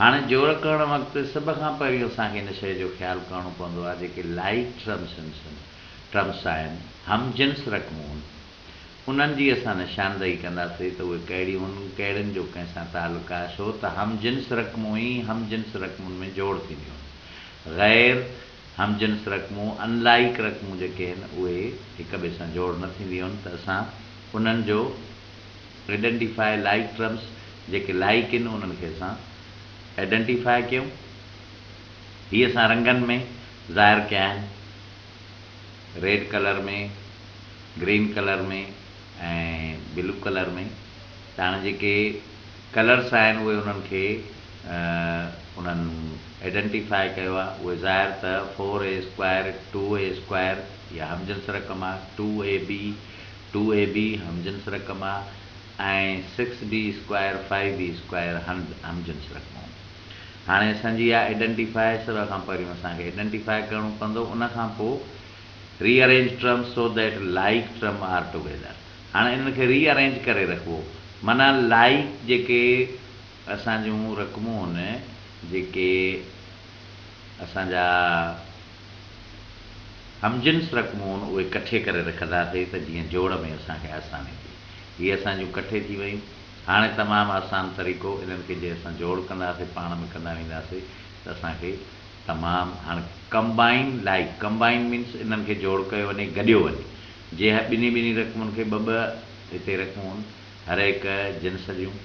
هاڻي جوڙ ڪرڻ وقت سڀ کان پهريون اسان کي ان شيء جو خيال ڪرڻو پوندو آهي جيڪي لائيڪ ٽرمسنسن، Terms، آهن، هم جنس رقمون، انهن جي اسان نشاندهي ڪنداسين ته اهي ڪهڙيون هن ڪهڙين جو ڪنهن سان تعلق آهي ڇو ته هم جنس رقمون ئي هم جنس رقمون ۾ جوڙ ٿينديون هن غير هم جنس رقمون، Unlike، رقمون جيڪي هن اهي هڪ ٻئي سان جوڙ نه ٿينديون هن ته اسان انهن جو Identify Like Terms جيڪي لائق ان انهن کي اسان Identify ڪيون هي اسان رنگن ۾ ظاهر ڪيا آهن Red colour ۾ Green colour ۾ ۽ Blue colour ۾ ته هاڻي جيڪي ڪلرس آهن اهي انهن کي انهن Identify ڪيو آهي اهي ظاهر ته Four A Square Two A Square يا همجنس رقم آهي Two AB two A B, هم جنس رقم، آ ۽ سڪس بي اسڪوائر، فائيو بي اسڪوائر، هند، هم جنس رقمون. هاڻي اسان جي آ ايڊنٽيفائي سر کان پهريون اسان کي ايڊنٽيفائي ڪرڻو پوندو ان کان پو rearrange terms so that like term are together. هاڻي انهن کي ري ارينج ڪري رکبو معنيٰ لائيڪ جيڪي اسان جون رقمون هن جيڪي. اسان جا هم جنس رقمون اهي ڪٺي ڪري رکندا ٿي ته جيئن جوڙ ۾ اسان کي آساني ٿئي. هي اسان جون ڪٺي ٿي ويون. هاڻي تمام آسان طريقو انهن کي جي اسان جوڙ ڪندا سي پاڻ ۾ ڪندا ويندا سي ته اسان کي تمام هاڻي ڪمبائن لائيڪ ڪمبائن مينس انهن کي جوڙ ڪيو وڃي گڏيو وڃي جي هي ٻنهي ٻنهي رقمون کي ٻه ٻه هتي رقمون هرهڪ جنس جون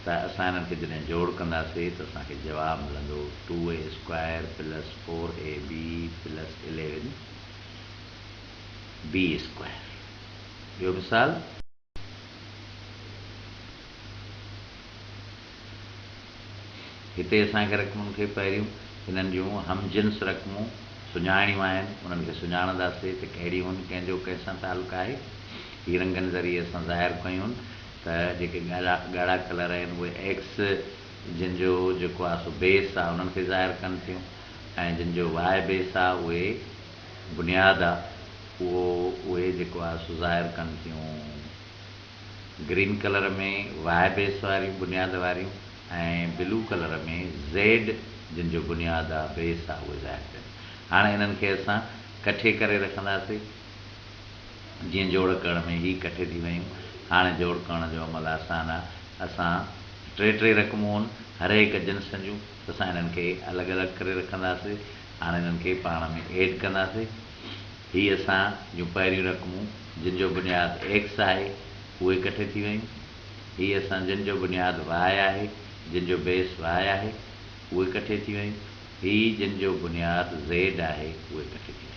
ته اسان انهن کي جڏهن جوڙ ڪنداسين ته اسان کي جواب ملندو two a square plus four a b plus eleven b square. ٻيو مثال. هتي اسان کي رقمن کي پهريون انهن جون هم جنس رقمون سڃاڻڻيون آهن. انهن کي سڃاڻنداسين ته ڪهڙيون هن ڪنهن جو ڪنهن سان تعلق آهي. هي رنگن ذريعي اسان ظاهر ڪيون. ته جيڪي ڳاڙها ڳاڙها ڪلر آهن اهي ايگس جن جو جيڪو آهي سو بيس آهي انهن کي ظاهر ڪن ٿيون ۽ جن جو واء بيس آهي اهي بنياد آهي اهو اهي جيڪو آهي سو ظاهر ڪن ٿيون گرين ڪلر ۾ واء بيس واريون بنياد واريون ۽ بلو ڪلر ۾ زيڊ جن جو بنياد آهي بيس آهي اهي ظاهر ڪن ٿيون هاڻ انهن کي اسان ڪٺي ڪري رکنداسين. جيئن جوڙ ڪرڻ ۾ هي ڪٺي ٿي ويون. هاڻي جوڙ ڪرڻ جو عمل آسان آ. اسان ٽي ٽي رقمون هن هرهڪ جنس جون ته اسان هنن کي الڳ الڳ ڪري رکنداسين. هاڻي هنن کي پاڻ ۾ ايڊ ڪنداسين. هي اسان جون پهريون رقمون جن جو بنياد ايڪس آهي اهي ڪٺي ٿي ويون. هي اسان جن جو بنياد واء آهي، جن جو بيس واء آهي اهي ڪٺي ٿي ويون. هي جن جو بنياد زيڊ آهي اهي ڪٺي ٿي ويون.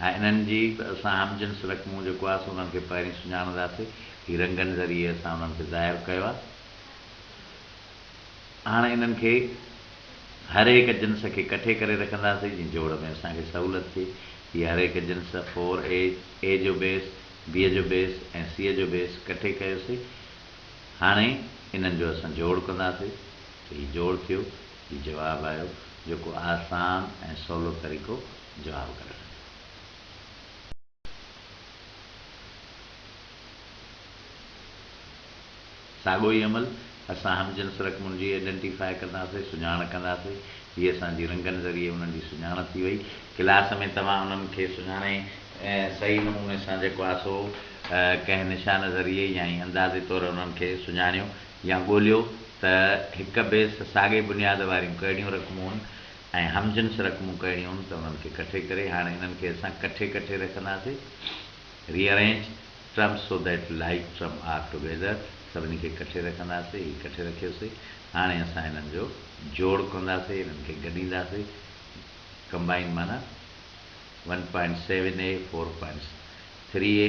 ها انهن جي به اسان هم جنس رقمون جيڪو آهي سو انهن کي پهرين سڃاڻنداسي هي رنگن ذريعي اسان انهن کي ظاهر ڪيو آهي هاڻ انهن کي هر هڪ جنس کي ڪٺي ڪري رکنداسي جيئن جوڙ ۾ اسان کي سهولت ٿئي هي هر هڪ جنس فور اي اي جو بيس بي جو بيس ۽ سي جو بيس ڪٺي ڪيوسي هاڻي انهن جو اسان جوڙ ڪنداسي ته هي جوڙ ٿيو. هي جواب آهيو جيڪو آسان ۽ سولو طريقو جواب ڪڍڻ جو. ساڳو ئي عمل اسان هم جنس رقمن جي Identify ڪنداسين، سڃاڻ ڪنداسين. هي اسان جي رنگن ذريعي انهن جي سڃاڻ ٿي وئي. ڪلاس ۾ توهان انهن کي سڃاڻي صحيح نموني سان جيڪو آسو ڪنهن نشان ذريعي يا ائين اندازي طور انهن کي سڃاڻيو. يا ڳوليو ته هڪ بيس ساڳئي بنياد واريون ڪهڙيون رقمون هن ۽ هم جنس رقمون ڪهڙيون هن ته انهن کي ڪٺي ڪري هاڻي انهن کي اسان ڪٺي ڪٺي رکنداسين Rearrange terms so that like term are together سڀني کي ڪٺي رکنداسين هي ڪٺي رکيوسين هاڻي اسان انهن جو جوڙ ڪنداسين انهن کي گڏينداسين Combine معنيٰ one point seven a four point three a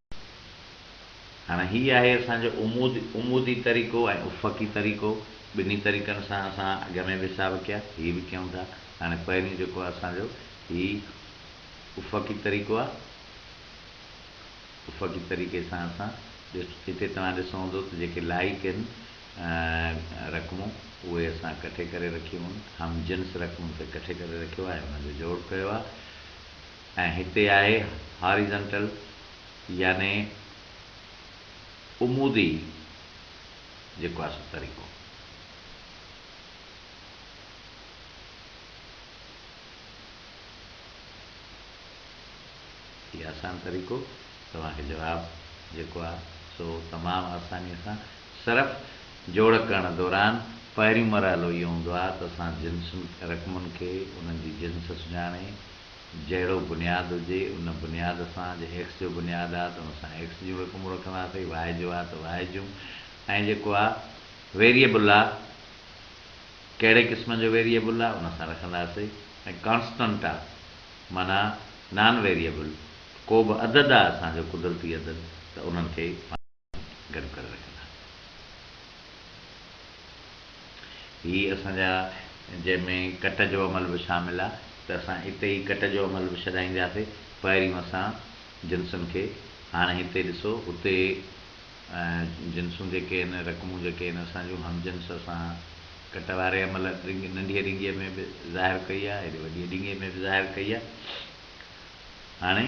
هاڻ هي آهي اسان جو عمود، عمودي طريقو ۽ افقي طريقو، ٻنهي طريقن سان اسان اڳ ۾ به حساب ڪيا، هي به ڪيون ٿا. هاڻي پهريون جيڪو آهي اسان جو هي افقي طريقو آهي، افقي طريقي سان اسان هتي توهان ڏسو هوندو ته جيڪي لائق هن رقمون اهي اسان ڪٺي ڪري رکيون هن، هم جنس رقمن کي ڪٺي ڪري رکيو آهي ۽ ان جو جوڙ ڪيو آهي. ۽ هتي آهي هاريزنٽل يعني عمودي جيڪو آهي سو طريقو. هي آسان طريقو توهان کي جواب جيڪو آهي سو تمام آساني سان صرف جوڙ ڪرڻ دوران پهريون مرحلو اهو هوندو آهي ته اسان جنسن رقمن کي انهن جي جنس سڃاڻي جهڙو بنياد هجي، ان بنياد سان جي ايڪس جو بنياد آ ته ان سان ايڪس جون رقمون رکنداسين، واء جو آ ته واء جون ۽ جيڪو آ ويريبل آ ڪهڙي قسم جو ويريبل آ ان سان رکنداسين ۽ ڪانسٽنٽ آ معنيٰ نان ويريبل ڪو به عدد آ اسان جو قدرتي عدد ته انهن کي گڏ ڪري رکندا. هي اسان جا جنهن ۾ ڪٽ جو عمل به شامل آ ته اسان اتي ئي ڪٽ جو عمل به ڇڏائينداسي پهريون اسان جنسن کي هاڻي هتي ڏسو اتي جنسون جيڪي آهن رقمون جيڪي آهن اسان جون هم جنس اسان ڪٽ واري عمل ننڍيء ڏينگيء ۾ به ظاهر ڪئي آ هيڏي وڏيء ڏينگيء ۾ به ظاهر ڪئي آ هاڻي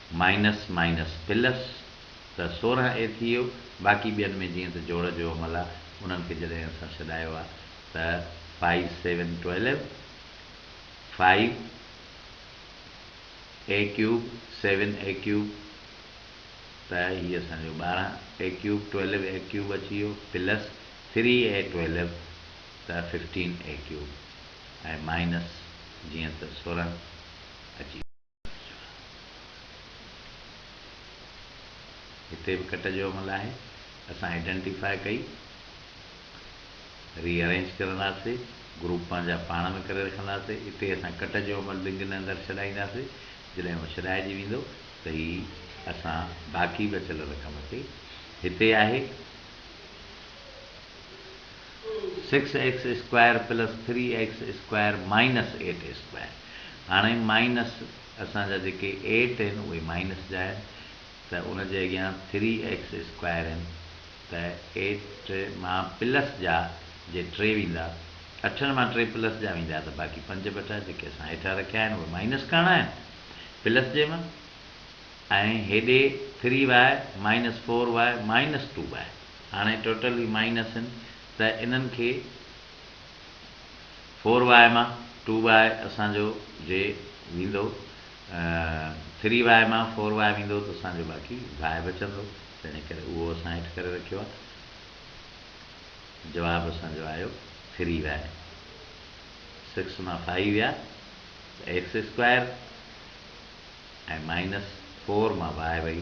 مائنس مائنس پلس ته سورهن اي ٿي ويو، باقي ٻين ۾ جيئن ته جوڙ جو عمل آ، انهن کي جڏهن اسان ڇڏايو آ ته five seven twelve, five a cube seven a cube ته هي اسان جو ٻارهن a cube twelve a cube اچي ويو پلس ٿري اي ٽويلو ته ففٽين اي ڪيوب ۽ مائنس جيئن ته سورهن اچي هتي به ڪٽ جو عمل آهي اسان آئيڊينٽيفاء ڪئي ري ارينج ڪرنداسي گروپ پنهنجا پاڻ ۾ ڪري رکنداسي اتي اسان ڪٽ جو عمل بنگ نه اندر ڇڏائينداسي جڏهن اهو ڇڏائجي ويندو ته هي اسان باقي بچل رقم کي هتي آهي six x square plus three x square minus eight square هاڻي مائنس اسان جا جيڪي ايٽ آهن اهي مائنس جا آهن ته ان جي اڳيان ٿري ايڪس اسڪوائر آهن ته ايٽ مان پلس جا جي ٽي ويندا اٺن مان ٽي پلس جا ويندا ته باقي پنج ٻٽا جيڪي اسان هيٺان رکيا آهن اهي مائنس ڪرڻا آهن پلس جي مان ۽ هيڏي three y minus four y minus two y. هاڻي ٽوٽل ئي مائنس آهن ته انهن کي فور واء مان ٽو واء اسان جو جي ويندو ٿري واء مان فور واء ويندو ته اسان جو باقي واء بچندو تنهن ڪري اهو اسان هيٺ ڪري رکيو آهي جواب اسان جو آيو ٿري واء سڪس مان فائيو ويا ته ايڪس اسڪوائر ۽ مائنس فور مان واء وئي